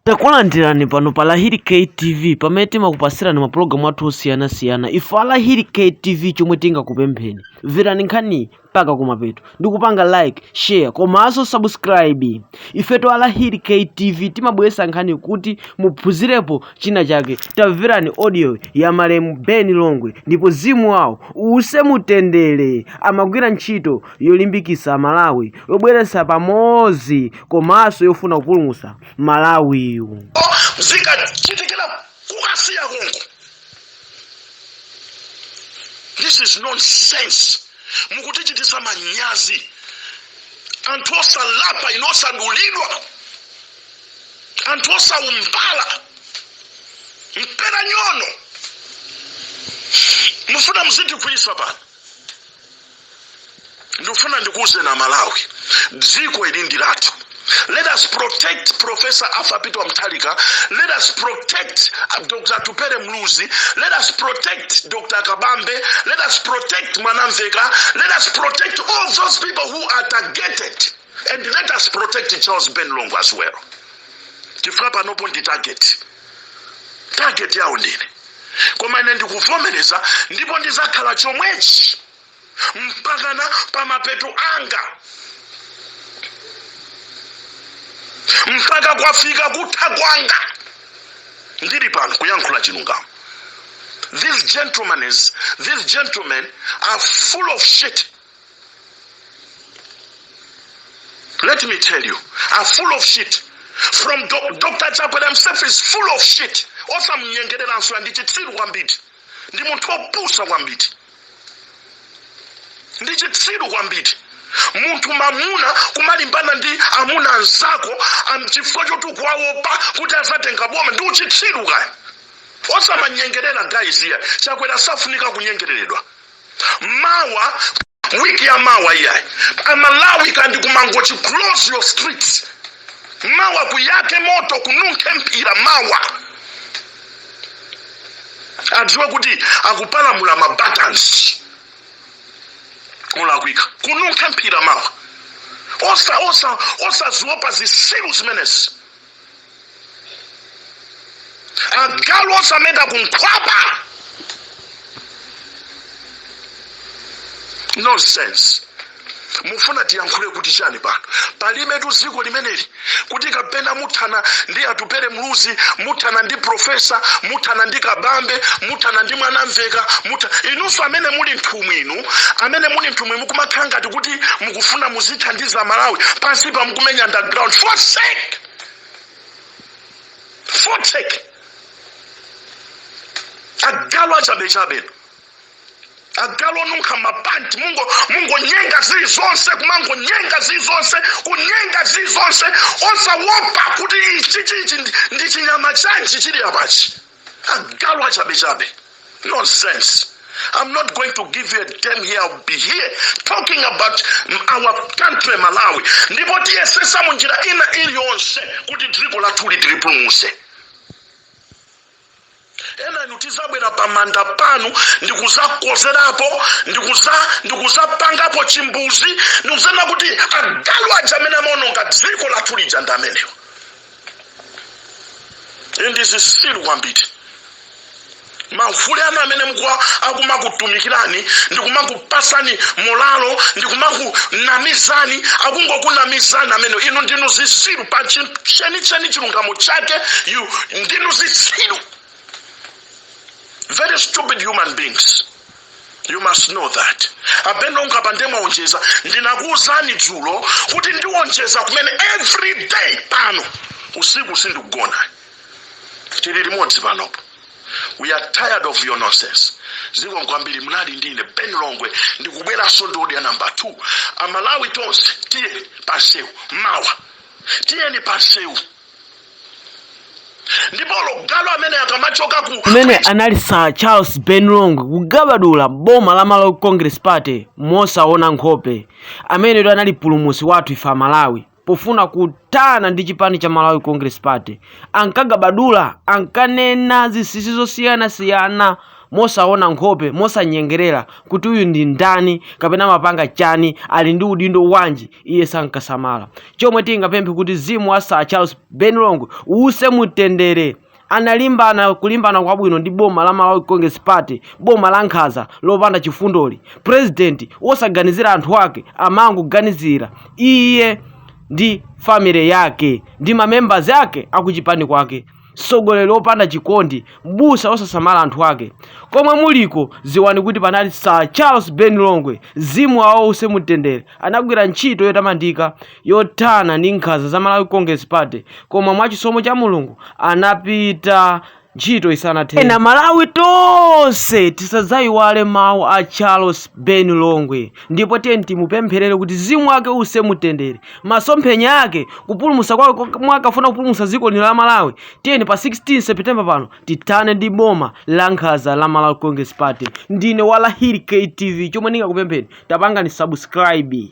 Takulandirani pano pa Lahiri KTV pamene timakupasirani mapulogalamu athu osiyanasiyana ife a Lahiri KTV chomwe tingakupempheni mverani nkhani mpaka kumapeto ndi kupanga like share komanso subscribe ifetu a Lahiri KTV timabweretsa nkhani kuti muphunzirepo china chake tamverani audio ya malemu Ben Longwe ndipo mzimu wawo uuse mutendere amagwira ntchito yolimbikitsa Amalawi yobweretsa pamodzi komanso yofuna kupulumutsa malawiyu zikachitikira ku Kasiya konko this is nonsense mukutichitisa manyazi anthu osalapa inu osadulidwa anthu osaumbala mpera nyono mufuna muzitikwiyisa pano ndikufuna ndikuwuzeni amalawi dziko ili ndi lathu let us protect professor arthur peter wamthalika let us protect dr atupele muluzi let us protect dr kabambe let us protect mwanamvekha let us protect all those people who are targeted and let us protect charles ben longwe as well chifukwa panopo ndi target target yawo ndine koma ine ndikuvomereza ndipo ndizakhala chomwechi mpakana pa mapeto anga mpaka kwafika kutha kwanga ndili pano kuyankhula chilungamo these gentlemen is, these gentlemen are full of shit let me tell you are full of shit from dr chakwera himself is full of shit osamnyengereranso ndi chitsiru kwambiri ndi munthu opusa kwambiri ndi chitsiru kwambiri munthu mamuna kumalimbana ndi amuna anzako am- chifukwa choti ukuwaopa kuti azatenga boma ndi uchitsiru iyayi osamanyengerera guys iyayi chakwera safunika kunyengereredwa mawa wiki ya mawa iyayi amalawi kaundikumangochi close your streets mawa kuyake moto kununkhe mphira mawa adziwe kuti akupalamula mabatansi olakwika kununkhe mphira mawa osa osa osaziopa zisiru zimenezi agalu osameta kunkhwapa nonsense mufuna tiyankhule kuti chani pano palibetu ziko limeneli kuti kapena muthana ndi atupele muluzi muthana ndi profesa muthana ndi kabambe muthana ndi mwanamveka mutha inunso amene muli nthumwi inu amene muli nthumwi mukumakhala ngati kuti mukufuna muzithandiza malawi pansi pa mukumenya underground for fuck's sake agalu achabechabe agalu onunkha mapanti mungonyenga zili zonse kumangonyenga zili zonse kunyenga zili zonse osawopa kuti ichi chichi ndi- ndi chinyama chanji chili apachi agalu achabechabe nonsense i'm not going to give you a damn here i'll be here talking about m- our country malawi ndipo tiyesesa mu njira ina iliyonse kuti dziko lathuli tilipulumuse ena inu tizabwera pamanda panu ndikuzakozerapo ndikuzapangapo chimbuzi ndikuzanena kuti agalu aja amene amaononga dziko lathu lija ndi amenewo ndi zitsiru kwambiri mahule anu amene mkuwa akumakutumikirani ndikumaku pasani mulalo ndikumakunamizani akungokunamizani amene inu ndinu zisiru pa chenicheni chilungamo chake you ndinu zisiru very stupid human beings you must know that apa ben longwe pa ndiye mwaonjeza ndinakuwuzani dzulo kuti ndiwonjeza kumene every day pano usiku sindikugona tili limodzi panopo we are tired of your nonsense zikomo kwambiri munali ndi ndine ben longwe ndikubweranso ndi audio namba 2 amalawi tonse tiyeni pansewu mawa tiyeni pansewu ndipo logayo amene akamachoka ku kumene anali sir charles ben longwe kugabadula boma la malawi congress party mosaona nkhope ameneyo anali mpulumusi wathu ife amalawi pofuna kuthana ndi chipani cha Malawi Congress Party ankagabadula ankanena zisisi zosiyanasiyana mosaona nkhope mosanyengerera kuti uyu ndi ndani kapena amapanga chani ali ndi udindo wanji iye sankasamala chomwe tingapemphe kuti mzimu wa Sir Charles Ben Longwe uuse mutendere analimbana kulimbana kwabwino ndi boma la Malawi Congress Party, boma la nkhaza lopanda chifundoli. President wosaganizira anthu ake amangoganizira iye ndi family yake ndi mamembers ake akuchipani kwake mtsogoleri wopanda chikondi mbusa wosasamala anthu ake komwe muliko ziwani kuti panali sir charles ben longwe mzimu wawo uuse mutendere anagwira ntchito yotamandika yothana ndi nkhanza za Malawi Congress Party koma mwa chisomo cha Mulungu anapita ntchito isanathe. Ena Malawi tonse tisadzaiwale mawu a Charles Ben Longwe ndipo tiyeni timupempherere kuti mzimu wake uuse mumtendere masomphenya ake kupulumutsa kwake komwe ankafuna kupulumutsa dziko lino la Malawi tiyeni pa 16 September pano tithane ndi boma la nkhanza la Malawi Congress Party ndine Walahiri KTV chomwe ndingakupempheni tapangani subscribe